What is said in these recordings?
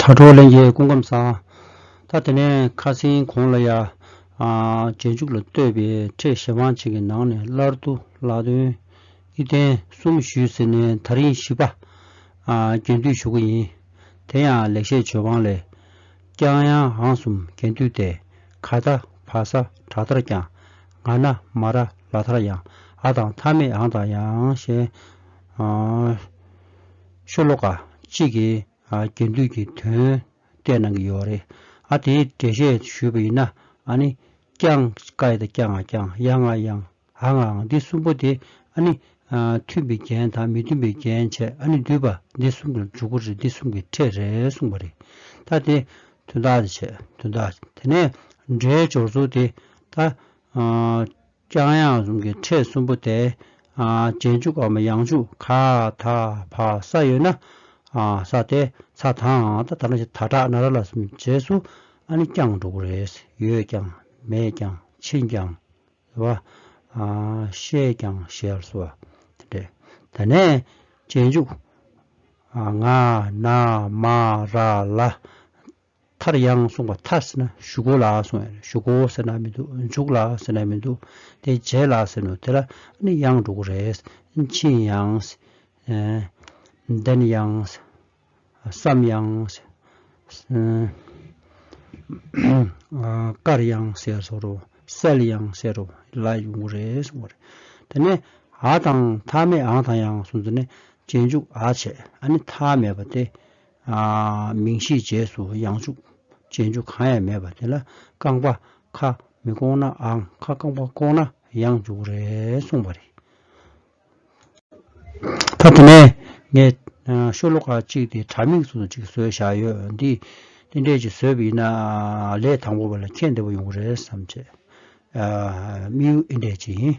དྲ་གྲོགས་ལན་རྒྱས་སྐུ་ཁམས་བཟང། ད་དེ་ནས་ཁ་སེང་གོང་ལ་ཡ། རྗེས་འཇུག་ལ་ལྟོས་པའི་ཁྲེས་བཞེད་དཔང་ཅིག་གི་ནང་ནས་སླར་དུ་ལག་འདོན། ཨི་ཐན་གསུམ་ཞུས་ཟེར་ནས་ད་རིང་བཞི་པ། རྒྱན་དུས་ཞུ་གི་ཡིན། དེ་ཡང་ལེགས་བཤད་ཇོ་བང་ལས། ཀྱང་ཡང་ཧང་གསུམ་རྒྱན་དུས་ཏེ། ག་ད་བ་ས་བྲག་ཐར་ཀྱང། ང་ན་མ་ར་ལ་ཐར་ཡང། ཨ་དང་མཐའ་མེད་ཨང་དང་ཡང། ཞེས། ཆོས་ལོ་ཀ་གཅིག་གི་རྒྱུན་མཐུད་ཀྱི་དོན་གཏད་གནང་གི་ཡོད་རེད། ཨ་དེའི་འགྲེལ་བཤད་ཞུས་པ་ཡིན་ན་ནི། ཀྱང་ཀའི་དང་ཀྱང་ང་ཀྱང་ཡང་ང་ཡང་ཨ་ང་ང་འདི་གསུམ་པོ་དེ་ནི། མཐུན་པའི་རྒྱན་དང་མི་མཐུན་པའི་རྒྱན་བྱས་ནི་འདུས་པ་འདི་གསུམ་གྱི་འཇུག་སྒོ་རེད་འདི་གསུམ་གྱི་ཕྲད་རེད་གསུངས་པ་རེད། ད་དེ་དོན་དག་དེ་བྱས་དོན་དག་དེ་ནས་འབྲེལ་སྦྱོར་ཚུལ་དེ་ད། རྐྱང་ཡང་གསུམ་གྱི་ཕྲད་གསུམ་པོ་དེ། རྗེས་འཇུག་གམ་ཡང་འཇུག་ག་ད་བ་ས་ཡོད་ན། ས་དེ་ཚ་དང་ད་ད་ནི་ད་དྲག་ན་ར་ལ་རྗེས་སུ་ཨ་ནི་རྐྱང་འགྲོ་གི་རེད། ཡོད་ཀྱང་མེད་ཀྱང་ཕྱིན་ཀྱང་བ། ཤེས་ཀྱང་ཤེས་སོ་བ། དེ་འདྲས། ད་ནས་རྗེས་འཇུག། ང་ན་མ་ར་ལ། མཐར་ཡང་གསུངས་པ་མཐར་ཟེར་ན་བཞུགས་གོ་ལགས་གསུངས་ཡང་བཞུགས་གོ་ཟེར་ན་མི་འདུག་འཇུག་ལགས་ཟེར་ན་མི་འདུག་དེ་རྗེས་ལགས་ཟེར་ནུ་དེ་ལ་ནི་ཡང་འགྲོ་གི་རེད། ཕྱིན་ཡང། བདེན་ཡང། བསམ་ཡང། བཀར་ཡང་ཟེར་སོང་རོ། གསལ་ཡང་ཟེར་རོ་ལ་ཡོང་གི་རེད་གསུངས་པ་རེད། དེ་ནས་ཨ་དང་ཐ་མས་ཨང་དང་ཡང་གསུངས་དེ་ནས་རྗེས་འཇུག་ཨ་བྱས་ཨ་ནི་ཐ་མལ་པ་སྟེ། མིང་གཞིའི་རྗེས་སུ་ཡང་ཕྱུག། ཅན་ཆུ་གང་ཡང་མེད་པ་དེ་ལ་རྐང་པ། ཁ། མི་བཀོག་ནའང་ཁ་རྐང་པ་བཀོག་ན་ཡང་འཇུག་རེད་གསུངས་པ་རེད། ད་དེ་ནས་ངས་ཤོ་ལོ་ཀ་གཅིག་དེ་དྲ་མིག་ཟུར་དུ་གཅིག་བཟོས་བཞག་ཡོད། འདི་འདྲས་ཀྱིས་བཟོས་པ་ཡིན་ན་ལས་དང་པོ་བ་ལ་ཁྱད་འདི་བ་ཡོང་གི་རེད་བསམ། ཅེས་དམིགས་ཡུལ་འདྲས་ཀྱིས་ཡིན།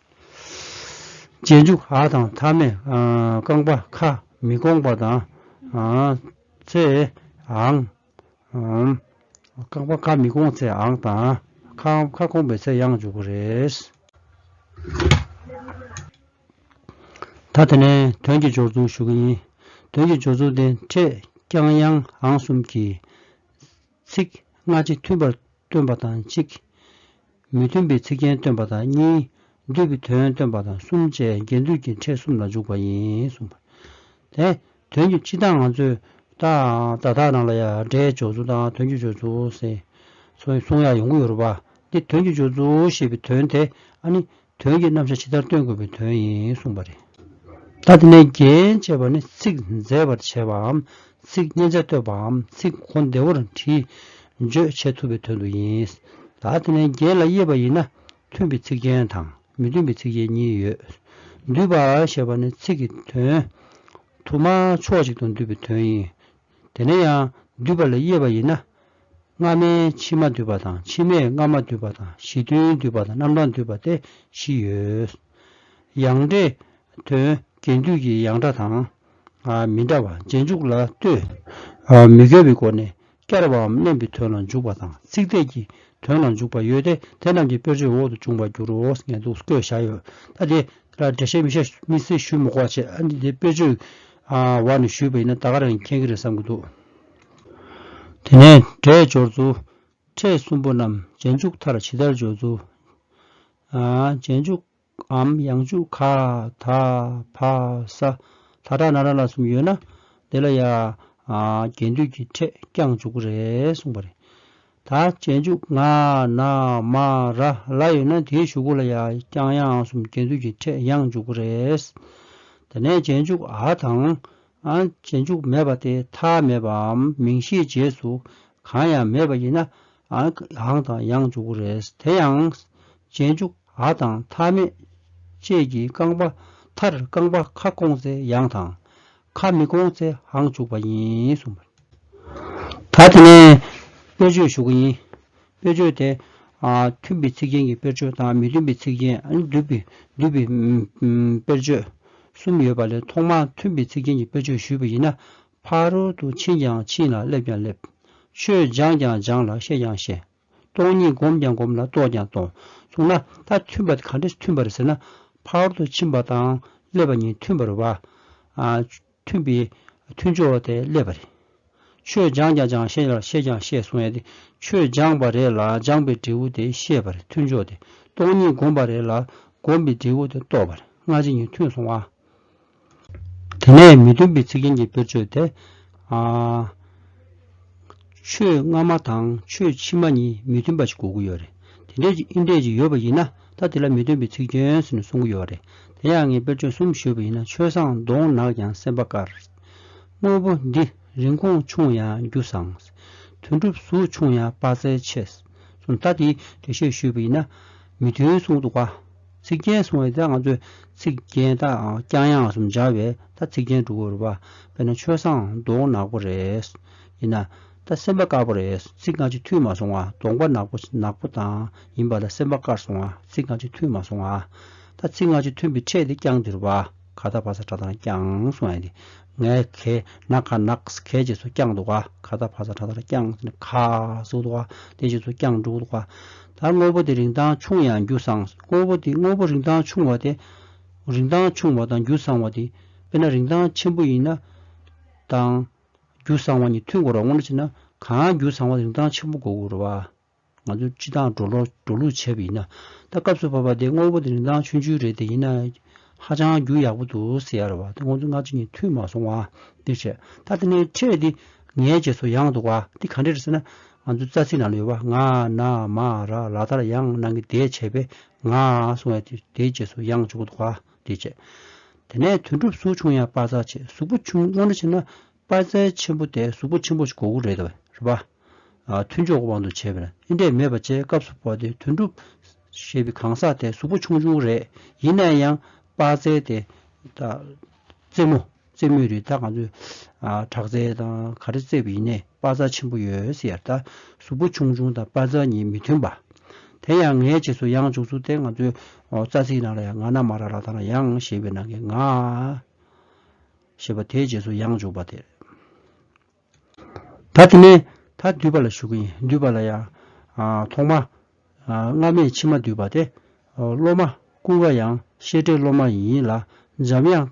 རྗེས་འཇུག་ཨ་དང་མཐའ་མས་རྐང་པ་ཁ་མི་སྐོང་པ་དང། ཚེའང། རྐང་པ་ཁ་མི་སྐོང་ཚེ་ཨང་དང། ཁ་སྐོང་པའི་ཚེ་ཡང་འཇུག་གི་རེད། ད་དེ་ནས་དོན་གྱི་སྦྱོར་ཚུལ་ཞུ་གི་ཡིན། དོན་གྱི་སྦྱོར་ཚུལ་དེ་འཕྲེད་རྐྱང་དབྱངས་ཨང་གསུམ་གྱིས། ཚིག་སྔ་ཕྱི་མཐུན་པར་སྟོན་པ་དང་གཅིག། མི་མཐུན་པའི་ཚིག་རྒྱན་སྟོན་པ་དང་གཉིས། བསྡུས་པའི་དོན་སྟོན་པ་དང་གསུམ་བཅས་རྒྱན་སྡུད་ཀྱི་ཕྲད་གསུམ་ལ་འཇུག་པ་ཡིན་གསུངས་པ། དེ་དོན་གྱི་སྤྱི་དང་ང་ཚོས་བརྡ་དག་རང་ལ་ཡང་སྒྲའི་སྦྱོར་ཚུལ་དང་དོན་གྱི་སྦྱོར་ཚུལ། གསུང་ཡང་ཡོང་གི་ཡོད་རེད་པ། འདིར་དོན་གྱི་སྦྱོར་ཚུལ་ཞེས་པའི་དོན་དེ་ཨ་ནི། དོན་གྱི་རྣམ་གཞག་ཇི་ལྟར་སྟོན་དགོས་པའི་དོན་ཡིན་གསུངས་པ་རེད། ད་དེ་ནས་རྒྱན་ཅེས་པ་ནི་ཚིག་མཛེས་པར་བྱེད་པའམ་ཚིག་སྙན་ཆ་གཏོད་པའམ་ཚིག་གོ་བདེ་བོར་བྲིས་བརྗོད་བྱེད་ཐུབ་པའི་དོན་དུ་ཡིན། ད་དེ་ནས་རྒྱན་ལ་དབྱེ་བ་ཡིན་ན་མཐུན་པའི་ཚིག་རྒྱན་དང་མི་མཐུན་པའི་ཚིག་རྒྱན་གཉིས་ཡོད། འདུས་པ་ཞེས་པ་ནི་ཚིག་གི་དོན་དུ་མ་ཕྱོགས་གཅིག་ཏུ་འདུས་པའི་དོན་ཡིན། དེ་ནས་ཡང་འདུས་པ་ལ་དབྱེ་བ་ཡིན་ན། སྔ་མའི་ཕྱི་མ་འདུས་པ་དང་ཕྱི་མས་སྔ་མ་འདུས་པ་དང་གཞི་མཐུན་འདུས་པ་དང་རྣམ་གྲངས་འདུས་པ་སྟེ་བཞི་ཡོད། ཡང་འདྲེ། དོན་གྱི་འདུས་ཀྱི་ཡང་འདྲ་དང། མི་འདྲ་བ་རྗེས་འཇུག་ལ་ལྟོས། མི་འགལ་བའི་སྒོ་ནས་བསྐྱར་བའམ་བསྣན་པའི་དོན་ལ་འཇུག་པ་དང་ཚིག་དེས་ཀྱི་དོན་ལ་འཇུག་པ་ཡོད་དེ་དེ་རྣམས་ཀྱི་དཔེར་བརྗོད་འོག་ཏུ་འབྱུང་བར་འགྱུར་རོ་ངས་འདུག་བཀོད་བཞག་ཡོད། ད་དེ་ལ་འགྲེལ་བཤད་མི་བྱ་མི་སྲིད་ཞུས་མོད་སྐོར་བྱས། འདི་དཔེར་བརྗོད། བ་ནས་ཞུས་པ་ཡིན་ན་ད་ག་རང་གིས་མཁྱེན་གི་རེད་བསམ་གི་འདུག། དེ་ནས་འབྲས་སྦྱོར་རྫུ་འཕྲས་གསུམ་པོ་རྣམས་རྗེས་འཇུག་མཐར་ཇི་ལྟར་སྦྱོར་རྫུ། རྗེས་འཇུག་འམ་ཡང་འཇུག་ག་ད་བ་ས་ལྷ་དྲག་ན་ར་ལ་གསུམ་ཡོད་ན་དེ་ལ་ཡ། རྒྱས་འདུས་ཀྱི་འཕྲས་ཀྱང་འཇུག་གི་རེད་གསུངས་པ་རེད། ད་རྗེས་འཇུག་ང་ན་མ་ར་ལ་ཡོད་ན་དེའི་ཞུ་གུ་ལ་ཡ་རྐྱང་ཡ་ཨང་གསུམ་གྱེན་ཚུད་ཀྱི་འཕྲད་ཡང་འཇུག་གི་རེད། དེ་ནས་རྗེས་འཇུག་ཨ་དང། ཨ་རྗེས་འཇུག་མེད་པ་དེ་མཐའ་མེད་པའམ་མིང་གཞིའི་རྗེས་སུ་གང་ཡང་མེད་པ་ཡིན་ན་ཨ་ཨང་དང་ཡང་འཇུག་གི་རེད། དེ་ཡང། རྗེས་འཇུག་ཨ་དང་མཐའ་མེད་བཅས་ཀྱི་རྐང་པ་མཐར་རྐང་པ་ཁ་སྐོང་ཚེ་ཡང་དང། ཁ་མི་སྐོང་ཚེ་ཧང་བཅུག་པ་ཡིན་གསུངས་པ། ད་དེ་ནས་དཔེར་བརྗོད་ཞུ་གི་ཡིན། དཔེར་བརྗོད་དེ། མཐུན་པའི་ཚིག་རྒྱན་གྱི་དཔེར་བརྗོད་དང་མི་མཐུན་པའི་ཚིག་རྒྱན་བསྡུས་པའི་དཔེར་བརྗོད་གསུམ་ཡོད་པ་ལས་ཐོག་མར་མཐུན་པའི་ཚིག་རྒྱན་གྱི་དཔེར་བརྗོད་ཞུས་པ་ཡིན་ན། ཕ་རོལ་ཏུ་ཕྱིན་ཀྱང་ཕྱིན་ལ་སླེབས་ཀྱང་སླེབས། ཆོས་སྦྱངས་ཀྱང་སྦྱངས་ལ་ཤེས་ཀྱང་ཤེས། སྟོང་ཉིད་བསྒོམས་ཀྱང་བསྒོམས་ལ་རྟོགས་ཀྱང་རྟོགས། གསུངས་ན། ད་མཐུན་པ་གང་འདྲ་མཐུན་པར་ཟེར་ན། ཕ་རོལ་ཏུ་ཕྱིན་པ་དང་སླེབ་པ་གཉིས་མཐུན་པར་བ། མཐུན་པའི་མཐུན་ཕྱོགས་དེ་སླེབ་པ་རེད། ཆོས་སྦྱངས་ཀྱང་སྦྱངས་ཤེས་ལ་ཤེས་ཀྱང་ཤེས་གསུངས་ཡ་དེ་ཆོས་སྦྱངས་པ་རེད་ལ་སྦྱངས་པའི་འབྲས་བུ་དེ་ཤེས་པར་མཐུན་ཕྱོགས་དེ་སྟོང་ཉིད་བསྒོམས་པ་རེད་ལ་བསྒོམས་པའི་འབྲས་བུ་དེ་རྟོགས་པར་སྔ་ཕྱི་གཉིས་མཐུན་སོང་བ། དེ་ནས་མི་མཐུན་པའི་ཚིག་ཅན་གྱི་དཔེར་བརྗོད་དེ། ཆོས་སྔ་མ་དང་ཆོས་ཕྱི་མ་གཉིས་མི་མཐུན་པ་ཞིག་གོ་གི་ཡོད་རེད། དེ་འདྲའི་ཅིག་ཨིན་འདྲའི་ཅིག་ཡོད་པ་ཡིན་ན་ད་དེ་ལ་མི་མཐུན་པའི་ཚིག་ཅན་ཟེར་ནས་གསུང་གི་ཡོད་རེད། དེ་ཡང་ངས་དཔེར་བརྗོད་གསུམ་ཞུས་པ་ཡིན་ན་ཆོས་བཟང་གདོང་ནག་ཀྱང་སེམས་པ་དཀར། དངོས་པོ་འདི་རིན་གོང་ཆུང་ཡང་རྒྱུ་བཟང། དོན་གྲུབ་གཟུགས་ཆུང་ཡང་དཔའ་རྩལ་ཆེ། གསུམ་ད་དེའི་འགྲེལ་བཤད་ཞུས་པ་ཡིན་ན་མི་མཐུན་གསུང་འདུག་ག། ཚིག་རྒྱན་གསུང་བའི་ད་ང་ཚོས་ཚིག་རྒྱན་ད་རྐྱང་ཡང་གསུམ་སྦྱར་བས་ད་ཚིག་རྒྱན་དྲུག་གོ། དཔེར་ན་ཆོས་བཟང་གདོང་ནག་པོ་རེད། ཡིན་ན། ད་སེམས་པ་དཀར་པོ་རེད་ཚིག་སྔ་ཕྱི་མཐུད་མ་སོང་བ་གདོང་པ་ནག་པོ་ནག་པོ་དང་ཡིན་པ་ལ་སེམས་པ་དཀར་སོང་བ་ཚིག་སྔ་ཕྱི་མཐུད་མ་སོང་བ། ད་ཚིག་སྔ་ཕྱི་མཐུན་པའི་ཕྲད་དེ་རྐྱང་འདིར་བ། ཁ་བཏགས་ཕ་ས་ཁྲ་ཐར་བསྐྱངས་སོང་ཨ་དེ། ནག་ཁའི་ནག་ཁ་ནག་ཁའི་རྗེས་སུ་བསྐྱངས་འདུག་ག་ཁ་བཏགས་ཕ་ས་ཁྲ་ཐར་བསྐྱངས་ནས་ཁ་ཟུག་འདུག་ག་དེ་རྗེས་སུ་བསྐྱངས་འདུག་ག་ད་དངོས་པོ་དེ་རིང་ཐང་ཆུང་ཡང་རྒྱུ་བཟང་དངོས་པོ་དེ་དངོས་པོ་རིང་ཐང་ཆུང་བ་དེ་རིང་ཐང་ཆུང་བ་དང་རྒྱུ་བཟང་བ་དེ་དཔེར་ན་རིང་ཐང་ཆེན་པོ་ཡིན་ན་དང། རྒྱུ་བཟང་བ་གཉིས་མཐུན་དགོས་རོགས་དངོས་གནས་བྱས་ན་གང་རྒྱུ་བཟང་བ་རིང་ཐང་ཆེན་པོ་དགོས་དགོས་རོགས། ང་ཚོ་སྤྱི་བཏང་འགྲོ་ལུགས་བྱས་པ་ཡིན་ན། ད་སྐབས་སུ་བབ་པ་དེ་དངོས་པོ་དེ་རིན་ཐང་ཆུང་ཆུང་རེད་དེ་ཡིན་ན། ཧ་ཅང་རྒྱུ་ཡག་པོ་འདུག་ཟེར་ཡ་རེད་བ་དེ་ཁོང་ཚོ་སྔ་ཕྱི་གཉིས་འཐུས་མ་སོང་བ་འདིར་བྱས། ད་དེ་ནས་ཁྲལ་འདི་ངའི་རྗེས་སུ་ཡང་འདུག་བ་འདི་ག་འདྲས་རེད་ཟེར་ན། ང་ཚོའི་རྩ་ཚིག་ནང་ལ་ཡོད་བ་ང་ན་མ་ར་ལ་དར་ཡང་གནང་གི་དེ་བྱས་པས་ང་སོང་བས་དེ་དེའི་རྗེས་སུ་ཡང་འཇུག་གི་འདུག་བ་འདི་བྱས། དེ་ནས་དོན་གྲུབ་སུ་ཆུང་ཡང་དཔའ་རྩ་ཆེ་གཟུགས་པོ་ཆུང་ངོ་འདྲ་བྱས་ན་དཔའ་རྩལ་ཆེན་པོ་དེ་གཟུགས་པོ་ཆེན་པོ་གོ་དགུ་རེད་པ། མཐུན་ཕྱོགས་དབང་དུ་བྱས་པས་ཨེ་འབྲས་མེད་པ་བཅས་སྐབས་སུ་བབས་ཏེ་དོན་གྲུབ། ཞེས་པའི་གང་ཟག་དེ་གཟུགས་པོ་ཆུང་ཆུང་རེད་ཡིན་ན་ཡང་དཔའ་རྩལ་དེ། རྩེད་མོ་རྩེད་མོ་རེད་ད་ག་ཚོད་དྲག་རྩལ་དང་ག་རེ་རྩེད་པ་ཡིན་ནས་དཔའ་རྩལ་ཆེན་པོ་ཡོད་ཟེར་ཡར་ད་གཟུགས་པོ་ཆུང་ཆུང་དང་དཔའ་རྩལ་གཉིས་མི་མཐུན་པ། དེ་ཡང་ངའི་རྗེས་སུ་ཡང་འཇུག་ཚུལ་དེ་ང་ཚོའི་རྩ་ཚིག་ནང་ལ་ཡང་ང་ན་མ་ར་ལ་ད་ན་ཡང་ཞེས་པའི་ནང་གི་ང། ཞེས་པ་དེའི་རྗེས་སུ་ཡང་འཇུག་པ་དེར། ད་དེ་ནས་ད་སྡུད་པ་ལ་ཞུགས་ཀྱི་སྡུད་པ་ལ་ཡང། ཐོག་མ། སྔ་མས་ཕྱི་མ་སྡུད་པ་སྟེ། སློབ་མ་ཀུན་དགའ་ཡང་ཤེས་བྲལ་སློབ་མ་ཡིན་ལ་འཇམ་དབྱངས།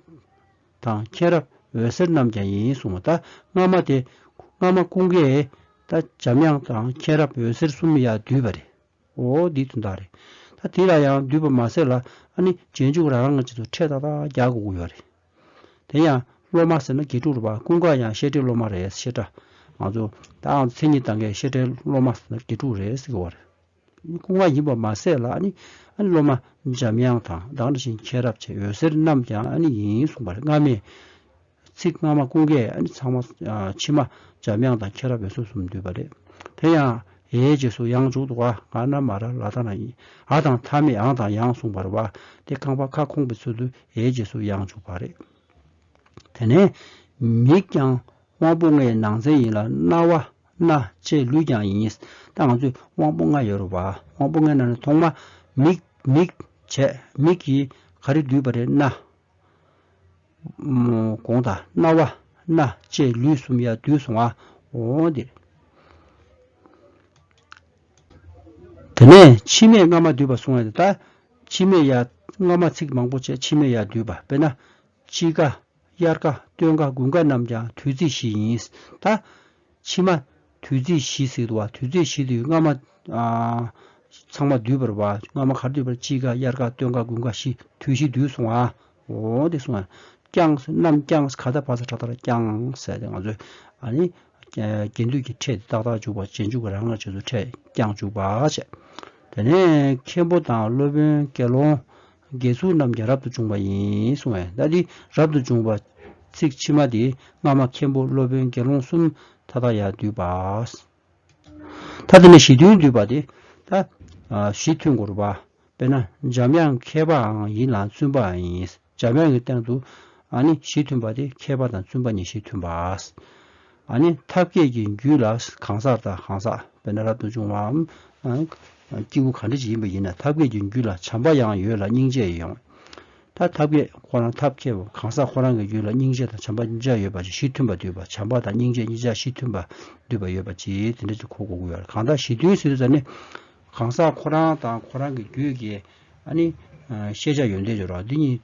དང་མཁྱེན་རབ་འོད་ཟེར་རྣམས་ཀྱང་ཡིན་གསུང་བ་ད་སྔ་མ་སྟེ། སྔ་མ་ཀུན་དགའས་ད་འཇམ་དབྱངས་དང་མཁྱེན་རབ་འོད་ཟེར་གསུམ་ཡང་སྡུད་པ་རེད། འོ་འདི་དོན་དག་རེད། ད་དེ་ལ་ཡང་བསྡུས་པར་མ་ཟད་ལ་ཨ་ནི་རྗེས་འཇུག་རང་རང་གི་ཆེད་དུ་ཁྲལ་ཏག་ཏག་རྒྱག་དགོས་ཀྱི་ཡོད་རེད། དེ་ཡང་སློབ་མ་ཟེར་ན་དགེ་ཕྲུག་རེད་པ་ཀུན་དགའ་ཡང་བཤད་ཁྲའི་སློབ་མ་རེད་བཤད་ཁྲ། ང་ཚོ་ད་ཨང་མཚན་ཉིད་དང་འགལ་བཤད་ཁྲའི་སློབ་མ་ཟེར་ན་དགེ་ཕྲུག་རེད་ཟེར་གྱི་ཡོད་རེད། ཀུན་དགའ་ཡིན་པར་མ་ཟད་ལ་ཨ་ནི་ཨ་ནི་སློབ་མ་འཇམ་དབྱངས་དང་བདག་འདྲ་བཞིན་མཁྱེན་རབ་བཅས་འོད་ཟེར་རྣམས་ཀྱང་ཨ་ནི་ཡིན་གསུངས་པ་རེད་སྔ་མས། ཚིག་སྔ་མ་ཀུན་དགའི་ཨ་ནི་ཚང་མ་ཕྱི་མ་འཇམ་དབྱངས་དང་ཁྱེད་རང་བོད་སོ་སུམ་འདུས་པ་རེད། དེ་ཡང་ཨའི་རྗེས་སུ་ཡང་འཇུག་ཏུ་བ་ང་རྣམས་མ་ར་ལ་ད་ན་ཡིན་ཨ་དང་མཐའ་མེད་ཨང་དང་ཡང་གསུངས་པར་བ་སྟེ་རྐང་པ་ཁ་ཁོང་གི་ཚུལ་དུ་ཨའི་རྗེས་སུ་ཡང་འཇུག་པ་རེད། དེ་ནས་མིག་ཀྱང་དབང་པོ་ལྔའི་ནང་ཚན་ཡིན་ལ་རྣ་བ་སྣ་ལྕེ་ལུས་ཀྱང་ཡིན། ད་ང་ཚོས་དབང་པོ་ལྔ་ཡོད་རུང་བ་དབང་པོ་ལྔའི་ནང་ནས་ཐོག་མ་མིག། མིག། བྱས། མིག་གིས་ག་རེ་འདུས་པ་རེད་ན། གོང་དང་རྣ་བ་སྣ་ལྕེ་ལུས་གསུམ་ཡར་བསྡུས་སོང་ངོ། དེ་ནས་མཆི་མས་རྔ་མ་བསྡུས་པ་སོང་ངོ། མཆི་མས་ཡར་རྔ་མ་ཚིག་མང་པོ་བཅད་མཆི་མས་ཡར་བསྡུས་པ་དཔེར་ན། དཔྱིད་ཀ། དབྱར་ཀ། སྟོན་ཀ་དགུན་ཀ་རྣམས་ཀྱང་དུས་ཚིགས་བཞི་ཡིན། ཕྱི་མ། དུས་ཚིགས་བཞི་ཟེར་བ་དུས་ཚིགས་བཞི་དུས་སྔ་མ། ཚང་མ་འདུས་པར་བ་སྔ་མ་གར་འདུས་པར་དཔྱིད་ཀ་དབྱར་ཀ་སྟོན་ཀ་དགུན་ཀ་བཞི་དུས་བཞི་འདུས་སོང་ང། འོ་དེ་སོང་ང། བསྐྱང་ས་རྣམས་བསྐྱང་ས་ག་ད་བར་ས་ཁྲ་ད་ལ་བསྐྱང་ས་དེ་ང་ཚོས་ཨ་ནི། རྒྱན་འདུས་ཀྱི་ཕྲད་དེ་ཏག་ཏག་འཇུག་པ་རྗེས་འཇུག་གི་རང་ངར་བྱེད་དུ་ཕྲད་བསྐྱང་འཇུག་པ་བྱས། དེ་ནས་མཁན་པོ་དང་སློབ་དཔོན་དགེ་སློང། དགེ་ཚུལ་རྣམས་ཀྱང་རབ་ཏུ་བྱུང་བ་ཡིན་གསུང་བས་ཟླ་འདི་རབ་ཏུ་བྱུང་བ། ཚིག་ཕྱི་མ་འདི་སྔ་མ་མཁན་པོ་སློབ་དཔོན་དགེ་སློང་གསུམ་མཐའ་དག་ཡང་འདུས་པ། མཐའ་དེ་ནས་གཞི་མཐུན་འདུས་པ་དེ། གཞི་མཐུན་འགོར་བ། དཔེར་ན་འཇམ་དབྱངས་མཁས་པའང་ཡིན་ལ་བཙུན་པའང་ཡིན། འཇམ་དབྱངས་ཀྱི་སྟེང་དུ་ནི་གཞི་མཐུན་པ་དེ་མཁས་པ་དང་བཙུན་པ་གཉིས་གཞི་མཐུན་པ། ཨ་ནི་ཐབས་མཁས་ཀྱི་རྒྱུད་ལ་གང་ཟག་དང་གང་ཟག་བས་ན་རབ་ཏུ་འབྱུང་བའམ། སྐྱེས་བུ་གང་འདྲ་ཞིག་ཡིན་པ་ཡིན་ན་ཐབས་མཁས་ཀྱི་རྒྱུད་ལ་བྱམས་པ་ཡང་ཡོད་ལ་སྙིང་རྗེ་ཡང་ཡོད། ད་ཐབས་མཁས་ཁོ་རང་ཐབས་མཁས་པོ་གང་ཟག་ཁོ་རང་གི་རྒྱུད་ལ་སྙིང་རྗེ་དང་བྱམས་པ་གཉིས་ཆ་ཡོད་པ་ཅིག་གཞི་མཐུན་པ་འདུས་པ་བྱམས་པ་དང་སྙིང་རྗེ་གཉིས་ཆ་གཞི་མཐུན་པ་འདུས་པ་ཡོད་པ་ཅིག་དེ་འདྲ་ཅིག་གོ་དགོས་ཀྱི་ཡོད། གང་དག་གཞི་མཐུན་སྲིད་དུ་ཟེར་ནི། གང་ཟག་ཁོ་རང་དང་ཁོ་རང་གི་རྒྱུད་ཀྱི་ཨ་ནི། ཤེས་བྱ་ཡོན་ཏན་སྦྱོར་བ་འདི་གཉིས།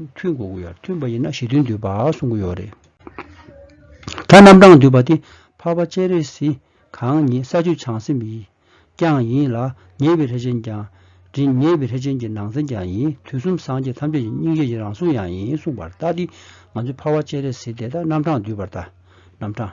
མཐུན་གོ་དགོས་ཡ་མཐུན་པ་ཡིན་ན་གཞི་མཐུན་འདུས་པ་གསུང་གི་ཡོད་རེད། ད་རྣམ་གྲངས་འདུས་པ་དེ་འཕགས་པ་སྤྱན་རས་གཟིགས་གང་ཉིད་ས་བཅུ་བྱང་སེམས་ཡིན་ཀྱང་ཡིན་ལ་ཉེ་བའི་ལྷས་བྱིན་ཀྱང་ཡིན་ཉེ་བའི་ལྷས་བྱིན་གྱི་ནང་ཚན་ཀྱང་ཡིན་དུས་གསུམ་སངས་རྒྱས་ཐམས་ཅད་ཀྱི་སྙིང་རྗེ་ཡི་རང་གཟུགས་ཡང་ཡིན་གསུངས་པར་ལྟ་སྟེ་ང་ཚོས་འཕགས་པ་སྤྱན་རས་གཟིགས་དེ་ལྟར་རྣམ་གྲངས་འདུས་པར་ལྟ། རྣམ་གྲངས།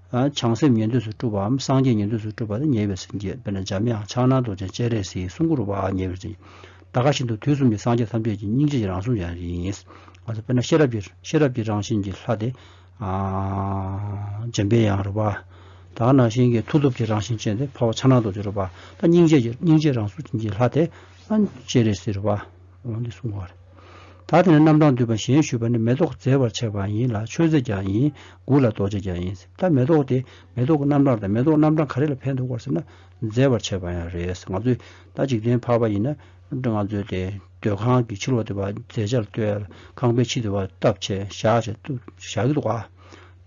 བྱང་སེམས་ཉན་ཐོས་སུ་སྤྲུལ་པའམ་སངས་རྒྱས་ཉན་ཐོས་སུ་སྤྲུལ་པ་ནི་ཉེ་བའི་སེམས་བསྐྱེད་དཔེར་ན་འཇམ་དབྱངས་ཕྱག་ན་རྡོ་རྗེ་སྤྱན་རས་གཟིགས་གསུང་གུ་རུ་བ་ཉེ་བའི་སེམས་བསྐྱེད། ད་ག་བཞིན་དུ་དུས་གསུམ་གྱི་སངས་རྒྱས་ཐམས་ཅད་ཀྱི་སྙིང་རྗེ་ཡི་རང་གཟུགས་ཀྱང་ཡིན། ང་ཚོ་དཔེར་ན་ཤེས་རབ་ཀྱི་ཤེས་རབ་ཀྱི་རང་བཞིན་གྱི་ལྷ་དེ། འཇམ་པའི་དབྱངས་རུ་བ། ད་ག་ན་བཞིན་གྱི་མཐུ་སྟོབས་ཀྱི་རང་བཞིན་ཅན་དེ་འཕགས་པ་ཕྱག་ན་རྡོ་རྗེ་རུ་བ། ད་སྙིང་རྗེ་ཀྱི་སྙིང་རྗེའི་རང་གཟུགས་ཀྱི་ལྷ་དེ། སྤྱན་རས་གཟིགས་རུ་བ། འོང་ནས་གསུང་བར། ད་དེ་ནས་རྣམ་གྲངས་འདུས་པ་གཞན་ཞུས་པ་ནི་མེ་ཏོག་བརྩེ་བར་བྱས་པ་ཡིན་ལ་མཆོད་རྫས་ཀྱང་ཡིན་དགུ་ལ་རྡོ་རྗེ་ཀྱང་ཡིན། ད་མེ་ཏོག་དེ་མེ་ཏོག་གི་རྣམ་གྲངས་དང་མེ་ཏོག་རྣམ་གྲངས་ག་རེ་ལ་ཕན་འདོགས་པར་ཟེར་ན། བརྫེ་བར་བྱས་པ་ཡང་རེད། ང་ཚོས་ད་འཇིག་རྟེན་འཕགས་པ་ཡིན་ན། ང་ཚོས་དེ་སྡོད་ཁང་གི་ཕྱི་ལོགས་དེ་བ་རྫས་ཆར་བཏོལ། ཁང་པའི་ཕྱི་དེ་བ་བཏབ་བྱས་བཞག་བྱས་བཞག་གི་འདུག་བ།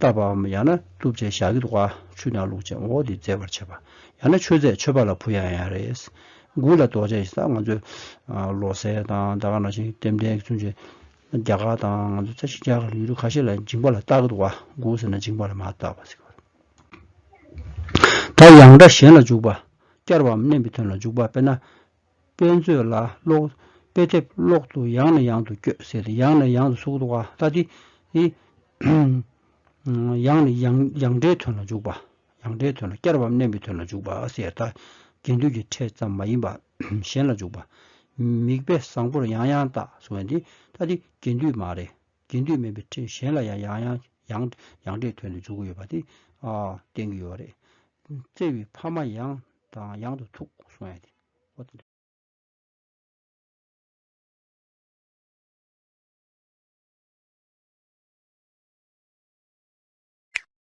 བཏབ་པའམ་ཡང་ན་བཏུབ་བྱས་བཞག་གི་འདུག་བ་ཆུ་དང་བླུགས་བྱས་འོག་དེ་བརྫེ་བར་བྱས་པ། ཡང་ན་མཆོད་རྫས་མཆོད་པ་ལ་བུ་ཡང་ཡང་རེད། དགུ་ལ་རྡོ་རྗེ་ཞེས་ད་ང་ཚོས་བློ་གསལ་དང་ད་ག་ནང་བཞིན་ལྟེམ་ལྡན་ཚུན་ཆད་རྒྱ་གར་དང་ང་ཚོ་ཤིན་ཅང་ལ་ཡུལ་གྲུ་ཁ་ཤས་ལ་འཇིང་པ་ལ་བཏགས་ཀྱི་འདུག་བ་དགུ་ཟེར་ན་འཇིང་པ་ལ་མ་བཏགས་པ་ཟེར་གི་རེད། ད་ཡང་སྒྲ་གཞན་ལ་འཇུག་པ་བསྐྱར་བའམ་བསྣན་པའི་དོན་ལ་འཇུག་པ་དཔེར་ན། དཔེ་མཛོད་ལ་ཀློག། དཔེ་དེབ་ཀློག་ཏུ་ཡང་ནས་ཡང་དུ་བསྐྱོད་ཟེར་ཏེ་ཡང་ནས་ཡང་དུ་ཟུག་འདུག་བ་ལྟ་སྟེ། ཡང་ནས་ཡང་འདྲའི་དོན་ལ་འཇུག་པ། ཡང་སྒྲའི་དོན་ལ་བསྐྱར་བའམ་བསྣན་པའི་དོན་ལ་འཇུག་པ་ཟེར། ཡང་དག་རྒྱན་སྡུད་ཀྱི་ཕྲད་ཙམ་མ་ཡིན་པ་གཞན་ལ་འཇུག་པ། མིག་དཔེ་བཟང་པོར་ཡང་ཡང་བལྟ་གསུང་བ་འདི་ལྟ་སྟེ་རྒྱན་སྡུད་མ་རེད། རྒྱན་སྡུད་མིན་པའི་ཕྲད་གཞན་ལ་ཡང་ཡང་ཡང་ཡང་ཡང་སྒྲའི་དོན་དུ་འཇུག་གི་ཡོད་པ་དེ་བསྟན་གྱི་ཡོད་རེད། བརྩེ་བའི་ཕ་མ་ཡང་དང་ཡང་དུ་ཐུག་གསུང་བ་འདི།